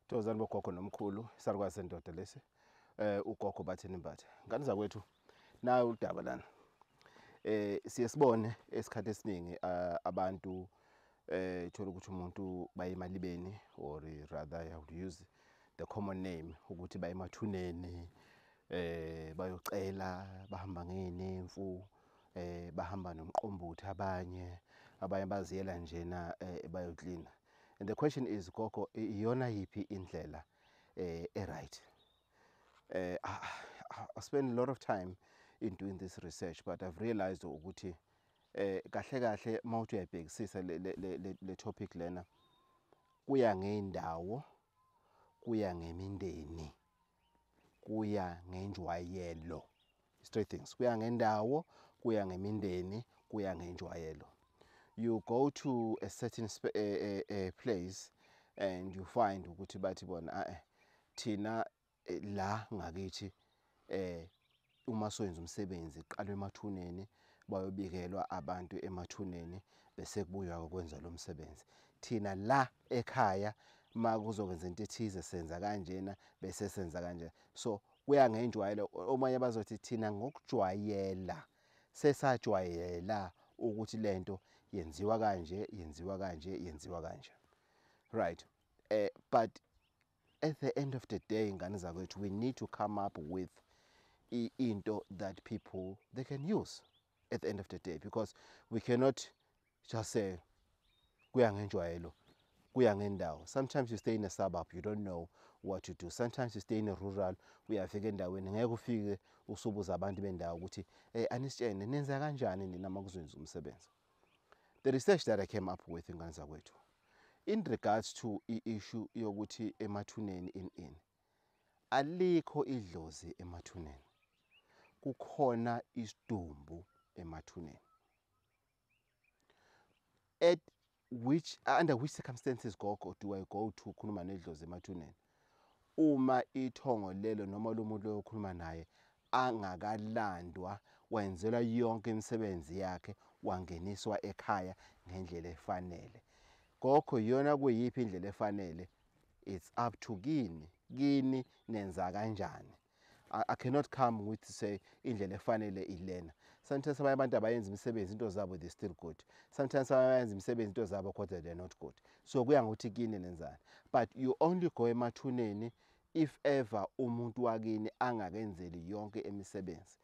Tozani bogogo nomkhulu isarukwazi sendoda lesi eh ugogo bathini mbathe ngane zakwethu naye udaba lana eh siye sibone esikhathi esiningi ah, abantu eh thola ukuthi umuntu bayemalibeni or rather i would use the common name ukuthi bayemathuneni eh bayocela bahamba ngenemfu eh bahamba nomqombothi abanye abanye baziyela njena eh, bayoklina eh, and the question is gogo iyona yiphi indlela eh right eh i spend a lot of time in doing this research but i've realized ukuthi eh kahle kahle mawuthi uyabhekisisa le le le topic lena kuya ngeindawo kuya ngemindeni kuya ngenjwayelo straight things kuya ngendawo kuya ngemindeni kuya ngenjwayelo you go to a certain uh, uh, uh, place and you find ukuthi bathi bona eh thina la ngakithi eh uma soyenza umsebenzi kuqalwa emathuneni bayobikelwa abantu emathuneni bese kubuywa ukwenza lo msebenzi thina la ekhaya uma kuzokwenza into ethize senza kanjena bese senza kanjena so kuya ngenjwayelo omanye bazothi thina ngokujwayela sesajwayela ukuthi lento yenziwa kanje yenziwa kanje yenziwa kanje right eh but at the end of the day ngane zakwethu we need to come up with into that people they can use at the end of the day because we cannot just say kuya ngenjwayelo kuya ngendawo sometimes you stay in a suburb you don't know what to do sometimes you stay in a rural uyafika endaweni ngeke ufike usubuza abantu bendawo ukuthi um anisitshene nenza kanjani nina uma kuzwenza umsebenzi The research that I came up with ingane zakwethu in regards to i-issue yokuthi emathuneni in in alikho idlozi emathuneni kukhona isidumbu emathuneni at which under which circumstances gogo do I go to khuluma nedlozi emathuneni Uma ithongo lelo noma lomuntu loyo okhuluma naye angakalandwa wenzelwa yonke imisebenzi yakhe wangeniswa ekhaya ngendlela efanele. Kokho iyona kuyiphi indlela efanele it's up to kini kini nenza kanjani. I, I cannot come with to say indlela efanele ilena sometimes abanye abantu abayenza imisebenzi into zabo they still good sometimes abayenza imisebenzi into zabo kodwa they're not good so kuya ngokuthi kini nenzani but you only go emathuneni if ever umuntu wakini angakenzeli yonke imisebenzi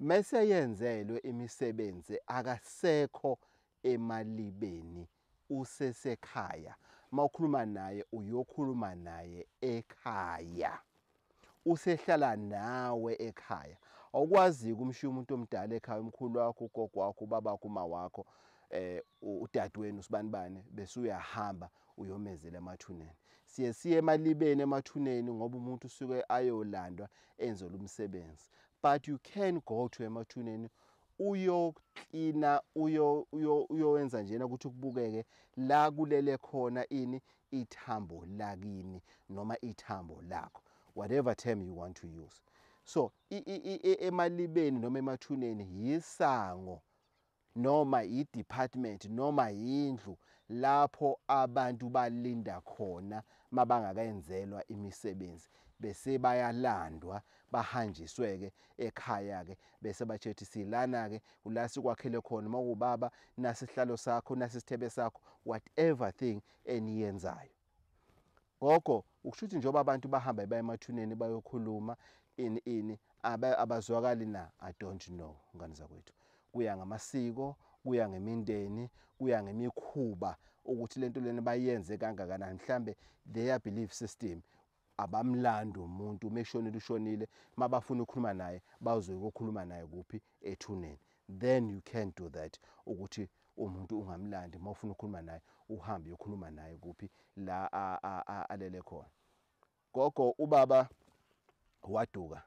mese yenzelwe imisebenzi akasekho emalibeni usesekhaya mawukhuluma naye uyokhuluma naye ekhaya usehlala nawe ekhaya awukwazi ukumshiya umuntu omdala ekhaya umkhulu wakho ugogo wakho ubaba wakho uma wakho eh udadewenu usibanibane bese uyahamba uyomezela emathuneni siye siye emalibeni emathuneni ngoba umuntu usuke ayolandwa enzelwa umsebenzi but you can go to emathuneni uyoklina uyo uyo uyowenza njena ukuthi kubukeke la kulele khona ini ithambo lakini noma ithambo lakho whatever term you want to use so emalibeni noma emathuneni yisango noma yidepartment noma yindlu lapho abantu balinda khona mabangakayenzelwa imisebenzi bese bayalandwa bahanjiswe-ke ekhaya-ke bese batshethi silana-ke ula sikwakhele khona uma kuwubaba nasi isihlalo sakho nasi isithebe sakho whatever thing eniyenzayo gogo ukusho ukuthi njengoba abantu bahamba baya emathuneni bayokhuluma ini ini abazwakali na i don't know ngane zakwethu kuya ngamasiko kuya ngemindeni kuya ngemikhuba ukuthi lento lena bayenze kangakanani mhlambe their belief system Abamlandi umuntu uma eshonile ushonile uma bafuna ukukhuluma naye bazoyokukhuluma naye kuphi ethuneni then you can do that ukuthi umuntu ungamlandi uma ufuna ukukhuluma naye uhambe uyokhuluma naye kuphi la alele khona gogo ubaba waduka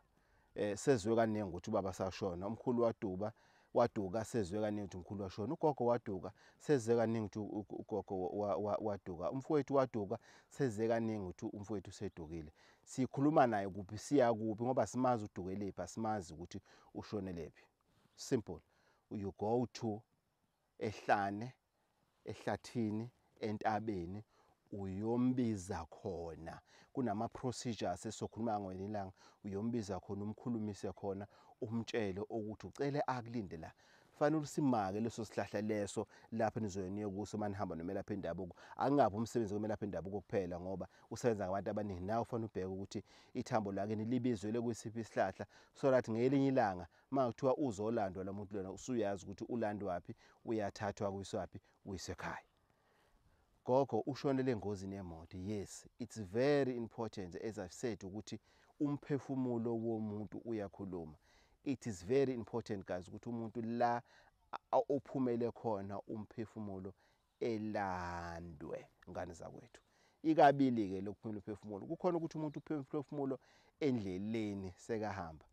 eh sezwe kaningi ukuthi ubaba sashona umkhulu waduba waduka sezwe kaningi ukuthi umkhulu washona ugogo waduka sezwe kaningi ukuthi ugogo waduka umfowethu waduka sezwe kaningi ukuthi umfowethu usedukile sikhuluma naye kuphi siya kuphi ngoba simazi udukelephi asimazi ukuthi ushonelephi simple you go to ehlane ehlathini entabeni uyombiza khona kunama procedures esokhuluma ngweni ilanga uyombiza khona umkhulumise khona umtshele ukuthi ucele akulinde la fanele usimake leso sihlahla leso lapho nizoye niye kuso manihamba nomelaphi endabuko angabe umsebenzi komelaphi endabuko kuphela ngoba usebenza ngabantu abaningi nawe ufanele ubheke ukuthi ithambo lakini libizwele kwisiphi isihlahla so that ngelinye ilanga Uma kuthiwa uzolandwa lo muntu lona usuyazi ukuthi ulandwaphi, uyathathwa kuyiswaphi, uyiswe ekhaya. Gogo ushonele engozini yemoto. Yes, it's very important as I've said ukuthi umphefumulo womuntu uyakhuluma. It is very important guys ukuthi umuntu la ophumele khona umphefumulo elandwe ngane zakwethu ikabili ke lokuphumula uphefumulo kukhona ukuthi umuntu uphumula uphefumulo endleleni sekahamba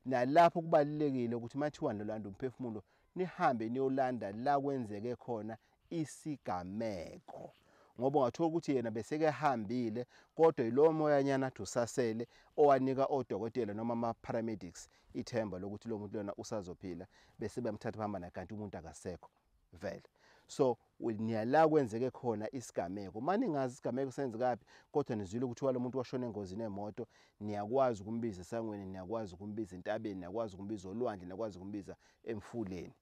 nalapho kubalulekile ukuthi mathiwa nolanda umphefumulo nihambe niyolanda la kwenzeke khona isigameko ngoba ungathola ukuthi yena besekehambile kodwa yilowo moyanyana athi usasele owanika odokotela noma ama-paramedics ithemba lokuthi lo muntu lona usazophila bese bemthatha bahamba naye kanti umuntu akasekho vele so niyala kwenzeke khona isigameko mani ngazi isigameko senzekaphi kodwa nizwile ukuthi walo muntu washona engozini emoto niyakwazi ukumbiza esangweni niyakwazi ukumbiza entabeni niyakwazi ukumbiza olwandle niyakwazi ukumbiza emfuleni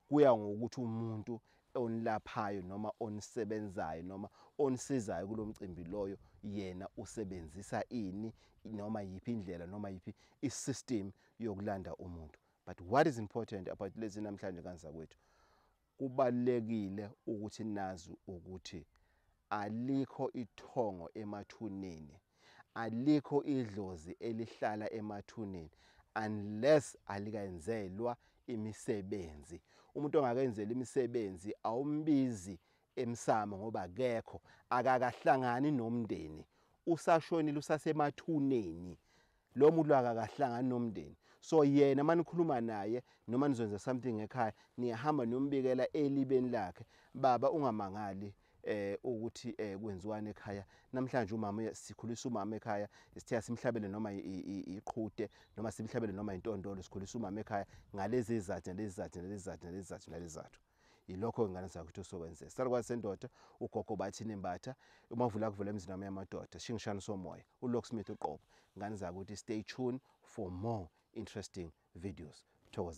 kuya ngokuthi umuntu onilaphayo noma onisebenzayo noma onisizayo kulomcimbi loyo yena usebenzisa ini noma yipi indlela noma yipi isystem yokulanda umuntu but what is important about lezi namhlanje kanzakwethu kubalekile ukuthi nazi ukuthi alikho ithongo emathuneni alikho idlozi elihlala emathuneni unless alikayenzelwa imisebenzi umuntu ongakenzela imisebenzi awumbizi emsamo ngoba akekho akakahlangani nomndeni usashonile usasemathuneni Lo muntu lo akakahlangani nomndeni. So yena manikhuluma naye noma nizwenza something ekhaya niyahamba niyombikela elibeni lakhe. Baba ungamangali eh ukuthi eh kwenziwani ekhaya namhlanje umama sikhulisa umama ekhaya sithe simhlabele noma iqhude noma simhlabele noma intondolo sikhulisa umama ekhaya ngalezi izathu nalezi izathu nalezi izathu nalezi izathu nalezi izathu yilokho ingane zakuthi osokwenzeka salukwazi sendoda ugogo bathi nembatha umavula kuvela emzini wami yamadoda shingishana somoya ulocksmith uqobo ngane zakuthi stay tuned for more interesting videos thokoza